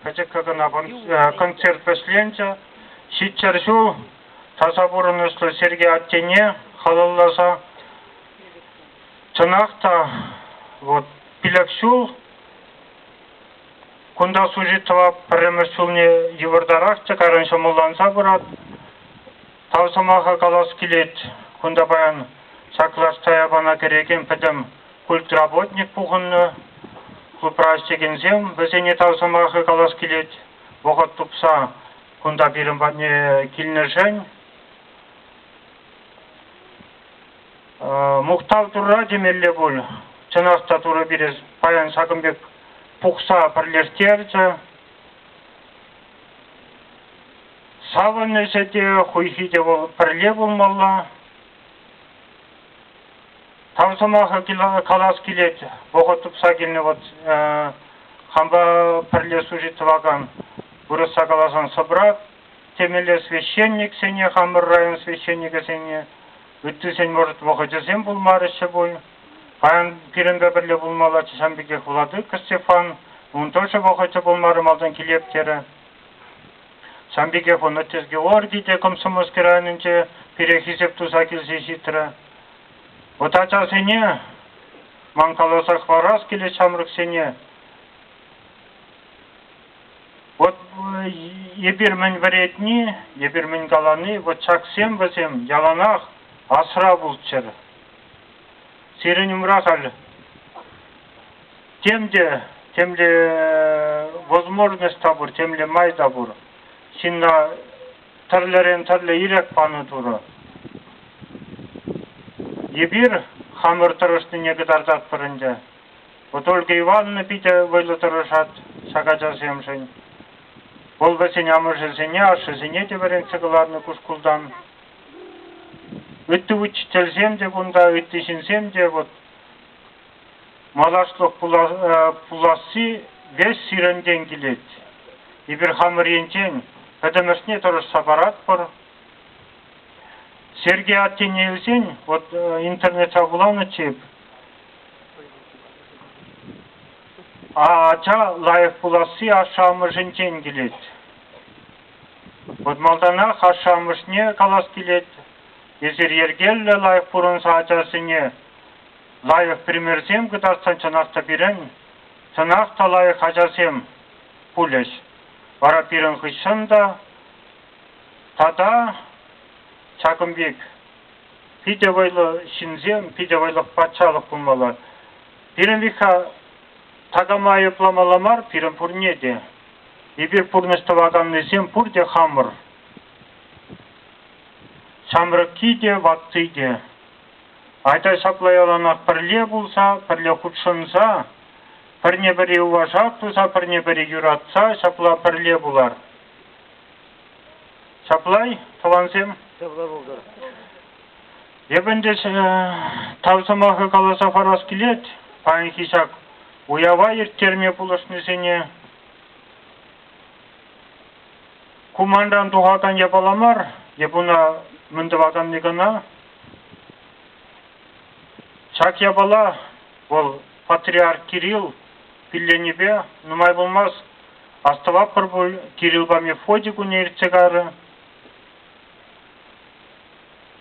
пӗчӗккӗ кӑна концерт вӗҫленчӗ. Ҫиччӗр ҫул таса пурӑнӑҫлӑ Сергей аттене халалласа чӑнах та вот пилӗк ҫул кунта служить тӑвап пӗрремӗш ҫулне йывӑртарах тӗкарӑн ҫӑмӑлланса пырать. Тав сӑмаха калас килет, кунта паян саклашса япала кӗрекен пӗтӗм культработник пухӑннӑ. Клубра ӗҫлекенсем вӗсене тав сӑмахӗ калас килет. Вӑхӑт тупса кунта пирӗн патне килнӗшӗн мухтав Турра темелле пуль. Чӑнах та Турӑ пире паян ҫакӑн пек пухса пӗрлештерчӗ. Савӑнӑҫӗ те, хуйхи те вӑл пӗрле пулмалла. Тав сӑмахӗ калас килет, вӑхӑт тупса килнӗ вот хампа пӗрле служить тӑвакан, вырӑсса каласан собрат, темелле священниксене, хамӑр район священникӗсене, ыттисен, может, вӑхӑчӗсем пулмарӗҫчӗ пуль. Паян пирӗнпе пӗрле пулмаллаччӗ ҫан пекех Владыка Стефан, ун тоже вӑхӑчӗ пулмарӗ малтан килеп терӗ. Сан пекех Онотте Георгий те комсомольски районӗнче пире хисеп туса килсе ҫитрӗ. Вӑт ачасене ман каласа хӑварас килет ҫамрӑксене. Вӑт эпир мӗн вӗретни, эпир мӗн калани, вӑт ҫаксем вӗсем яланах асра пулччӑр. Сирӗн умра халь тем те темле возможность та пур, темле май та пур. Ҫынна тӗрлӗрен тӗрлӗ ирӗк панӑ Турӑ. Эпир хамӑр тӑрӑшнине кӑтартатпӑр ӗнтӗ. Вот Ольга Ивановна питӗ вӑйлӑ тӑрӑшать ҫак ачасемшӗн. Вӑл вӗсен амӑшӗсене, ашшӗсене те вӗрентсе кӑларнӑ ку шкултан. Ытти учительсем те кунта, ытти ҫынсем те вӑт малашлӑх пуласси веҫ сирӗнтен килет. Эпир хамӑр енчен пӗтӗмӗшне тӑрӑшса паратпӑр. Сергей аттене илсен вот интернетра вуланӑччӗ эп. Ача лайӑх пуласси ашшӗ-амӑшӗнчен килет. Вӑт малтанах ашшӗ-амӑшне калас килет, эсир йӗркеллӗ лайӑх пурӑнса ачасене лайӑх примерсем кӑтартсан чӑнах та пирӗн, чӑнах та лайӑх ачасем пулӗҫ. Вара пирӗн хыҫҫӑн та тата ҫакӑн пек питӗ вӑйлӑ ҫынсем, питӗ вӑйлӑ патшалӑх пулмалла. Пирӗн витха Такама айӑпламалла мар пирӗн пурне те. Эпир пурнӑҫ тӑваканнисем пурте хамӑр. Ҫамрӑкки те, ватти те. Айта ҫапла яланах пӗрле пулса, пӗрле хутшӑнса, пӗрне-пӗри уважап туса, пӗрне-пӗри юратса ҫапла пӗрле пулар. Ҫапла-и, тӑвансем? Ҫапла пултӑр. Эп ӗнтӗ тав сӑмахӗ каласа парас килет паянхи ҫак уява ирттерме пулӑшнисене. Ку манран тухакан япала мар, эп уна мӗн тӑваканни кӑна. Ҫак япала вӑл патриарх Кирилл пилленипе нумай пулмасть астӑватпӑр пуль Кириллпа Мефодий кунне иртсе кайрӗ.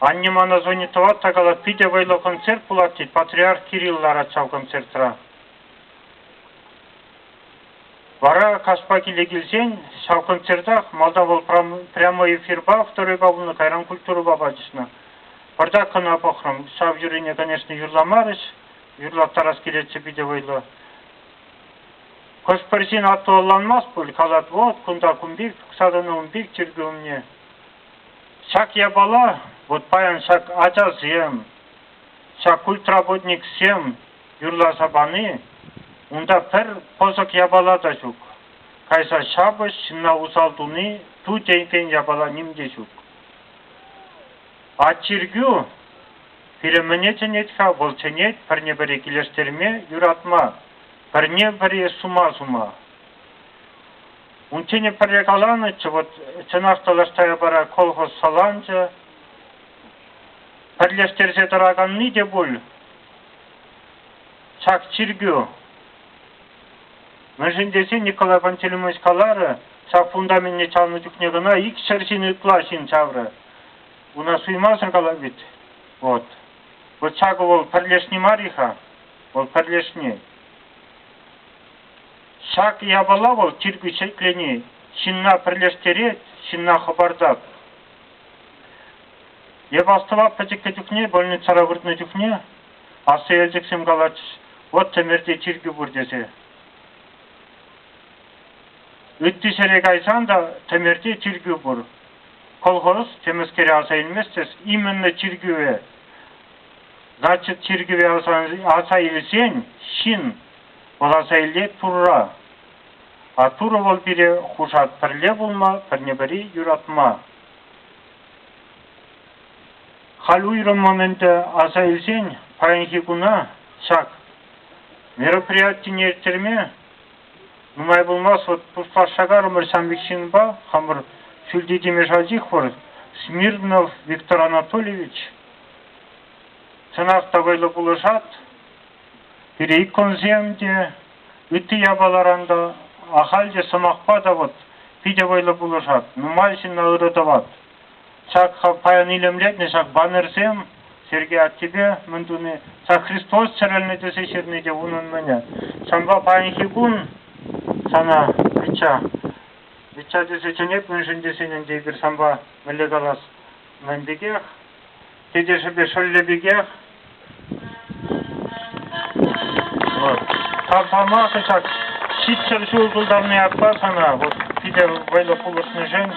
Анне мана звонит тӑвать-та калать, питӗ вӑйлӑ концерт пулать, тет, Патриарх Кирилл ларать ҫав концертра. Вара каҫпа киле килсен ҫав концертах малта вӑл прямо эфирпа второйка пулнӑ, кайран культурӑпа пачӑшнӑ. Пӑртак кӑна пӑхрӑм, ҫав юрине, конечно, юрламарӗҫ, юрлаттарас килетчӗ питӗ вӑйлӑ. Хӑш-пӗр ҫын атту ӑнланмасть пуль, калать, вот кунта кун пек, тухса тӑнӑ ун пек чиркӳ умне. Ҫак япала вот паян ҫак ачасем, ҫак культработниксем юрласа пани, унта пӗр пӑсӑк япала та ҫук. Кайса ҫапӑҫ, ҫынна усал туни ту тенкен япала ним те ҫук. А чиркӳ пире мӗне чӗнет-ха? Вӑл чӗнет пӗрне-пӗри килӗштерме, юратма, пӗрне-пӗри сума сума. Унччен пӗрре каланӑччӗ, вот чӑнах тӑтӑшсаипара колхоз саланчӗ. Пӗрлештерсе тӑраканни те пуль ҫак чиркӳ. Мӗншӗн тесен Николай Пантелеймонович каларӗ, ҫак фундаменне чавнӑ чухне кӑна икҫӗр ҫын ытла ҫын чаврӗ. Уна суймасӑр калать вӗт. Вот. Вот ҫакӑ вӑл пӗрлешни мар-и-ха? Вӑл пӗрлешни. Ҫак япала вӑл чиркӳ ҫӗклени ҫынна пӗрлештерет, ҫынна хӑпартать. Эп астӑва пӗчӗккӗ чухне больницӑра выртнӑ чухне аслӑ елчӗксем калатчӗҫ, вот Тӗмерте чиркӳ пур тесе. Ытти ҫӗре кайсан та Тӗмерте чиркӳ пур. Колхоз темӗскере аса илмест тес, имӗнлӗ чиркӗве, значит чиркӗве аса, аса илсен ҫын Вӑраса илет Турра, а Турӑ вӑл пире хушать пӗрле пулма, пӗрне-пӗри юратма. Халь уйрӑммӑн ӗнтӗ аса илсен паянхи куна ҫак мероприятине ирттерме нумай пулмасть вот туслашса карӑмӑр ҫамрӑк ҫынпа хамӑр Шӳлти Тимешалчихвӑр Смирнов Виктор Анатольевич. Чӑнах та вӑйлӑ пулӑшать. Пире иккӗмӗшсем те, ытти япаларан та, ахаль те сӑмахпа тӑвӑт, питӗ вӑйлӑ пулӑшать, нумай ҫынна ырӑ тӑвать. Ҫак паян илемлетнӗ ҫак баннерсем Сергей аттепе мӗн туни, ҫак Христос чӗрӗлнӗ тесе ҫырни те унӑн-мӗнӗ. Ҫавӑнпа паянхи кун сана Мичча, Мичча тесе чӗнет мӗншӗн тесен ӗнтӗ эпир санпа мӗнле калас, мӗн пекех Тетешӗпе шӑллӗ пекех тапсӑрма кӑҫак ҫиччӗр ҫул тултарни аппа сана вот питӗ вӑйлӑ пулӑшнӑшӑн.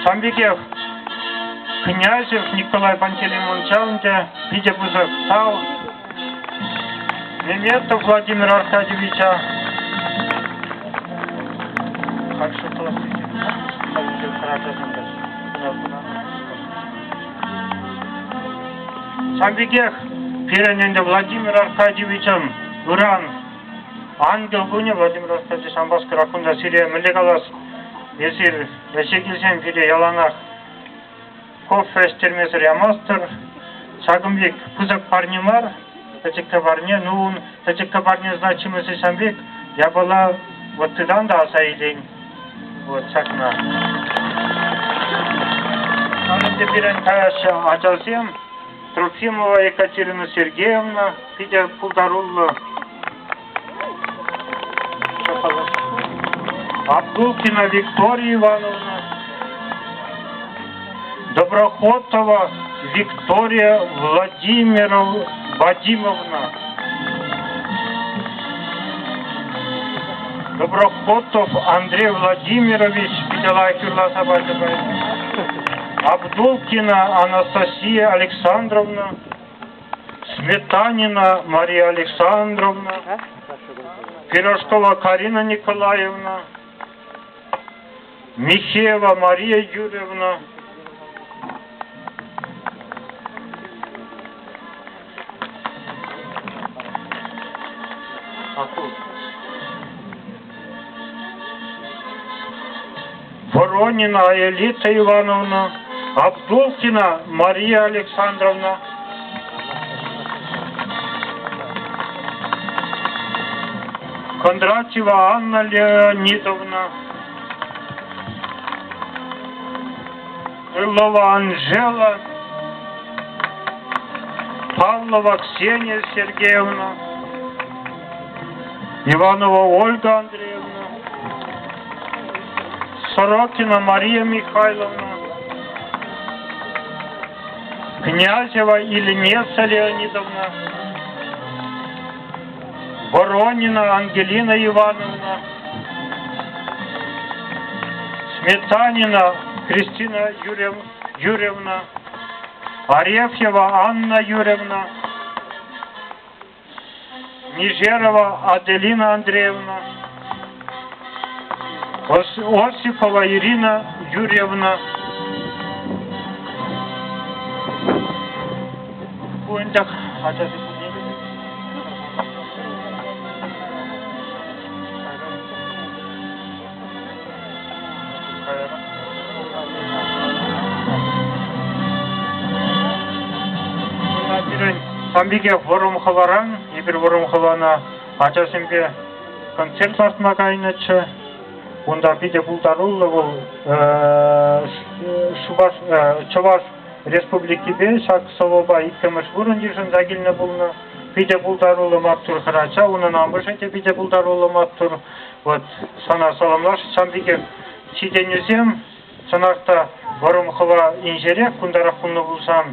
Сан пекех княҫев Николай Пантелеймонча ӗнтӗ питӗ пысӑк тал. Меметов Владимир Аркадьевича каршы класс хальлӗхе хӑратасӑн та. Ҫав пекех пирӗн ӗнтӗ Владимир Аркадьевичӑн ыран ангел кунӗ. Владимир Аркадьевич Амбаскера кунта сире мӗнле калас? Эсир ӗҫе килсен пире яланах кофе ӗҫтермесӗр ямастӑр. Ҫакӑн пек пысӑк парне мар, пӗчӗккӗ парне. Ну, ун пӗчӗккӗ парне значимости ҫавӑн пек япала вот тытан та аса илен. Вот ҫакна. Ӗнтӗ пирӗн каяҫҫӗ ачасем. Трофимова Екатерина Сергеевна питӗ пултаруллӑ. Абдулкина Виктория Ивановна. Доброхотова Виктория Владимировна. Доброхотов Андрей Владимирович бедолага хырласа пачӗ Абдулкина Анастасия Александровна, Сметанина Мария Александровна, Пирожкова Карина Николаевна, Михеева Мария Юрьевна. Воронина Элита Ивановна, Абдулкина Мария Александровна. Кондратьева Анна Леонидовна. Крылова Анжела, Павлова Ксения Сергеевна, Иванова Ольга Андреевна, Сорокина Мария Михайловна, Князева Ильнеса Леонидовна, Боронина Ангелина Ивановна, Сметанина Кристина Юрьевна, Арефьева Анна Юрьевна, Нижерова Аделина Андреевна, осипова ирина юрьевна пирӗн пампике вӑрӑмхӑваран эпир вӑрӑмхӑвана ачасемпе концерт лартма кайнӑччӗ. Унта питӗ пултаруллӑ вӑл Шупаш, Чӑваш Республикипе ҫак сӑвӑпа иккӗмӗш вырӑн йышӑнса килнӗ пулнӑ. Питӗ пултаруллӑ маттур хӗрача. Унӑн амӑшӗ те питӗ пултаруллӑ маттур. Вот сана саламлаш. Сан пекех ҫитӗнӳсем Чӑнах та вӑрӑм хӑва инҫерех кунтарах пулнӑ пулсан,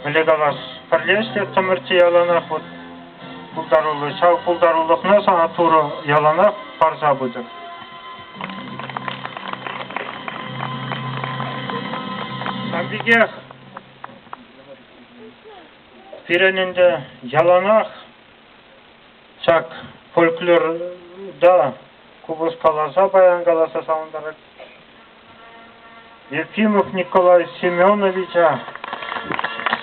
мӗнле калас, пӗрле ӗҫлеттӗмӗр те яланах вот пултаруллӑ. Ҫав пултарулӑхна сана Турӑ яланах парса пытӑр. Сан пекех пирӗн ӗнтӗ яланах ҫак фольклорта купӑс каласа, баян каласа савӑнтарать. Ефимов Николай Семеновича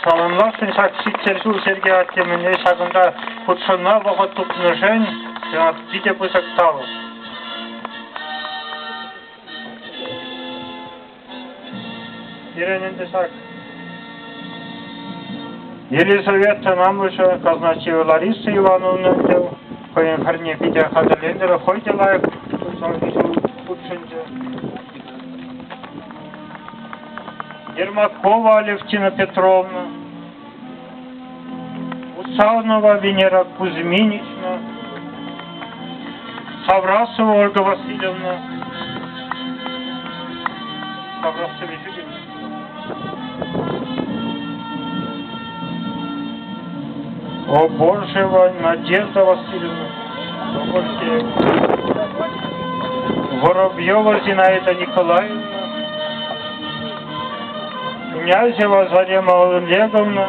саламласшӑн ҫак ҫиччӗр ҫул Сергей Артемӗне ҫакӑнта хутшӑнма вӑхӑт тупнӑшӗн сенат питӗ пысӑк талӑк. Пирӗн ӗнтӗ ҫак Елизавета Намӑшӗ, Казначеева Лариса Ивановна тӗв Хӑйӗн парне питӗ хатӗрленӗ, хӑй те лайӑх усалти ҫул хутшӑнчӗ. Ермакова Алевтина Петровна, Усалнова Венера Кузьминична, Саврасова Ольга Васильевна, Саврасова Юрьевна. Обожева Надежда Васильевна. Воробьева Зинаида Николаевна. Князева Зарема Олеговна.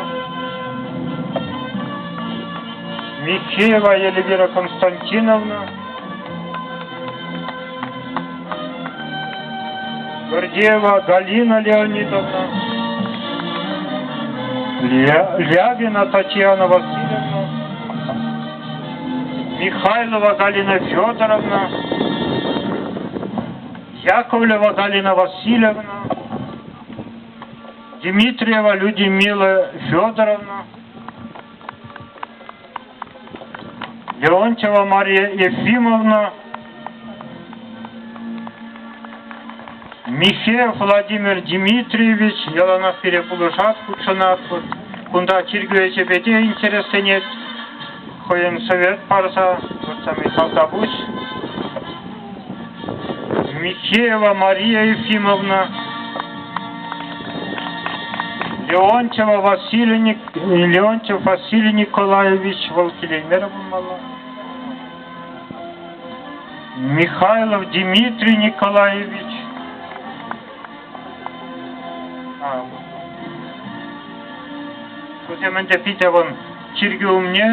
Михеева Елвира Константиновна. Гордеева Галина Леонидовна, Лябина Татьяна Васильевна, Михайлова Галина Федоровна, Яковлева Галина Васильевна, Дмитриева Людмила Федоровна, Леонтьева Мария Ефимовна, Михеев Владимир Дмитриевич яланах пире пулӑшать, хутшӑнать. Кунта чиркӳ ӗҫӗпе те интересленет. Хӑйӗн совет парса, вот там и Калтапуҫ. Михеева Мария Ефимовна, Леонтьева Василий, Леонтьев Василий Николаевич Валкилемировмала, Михайлов Дмитрий Николаевич, а, Тут я ӗнтӗ питӗ вӑн чиркӳ умне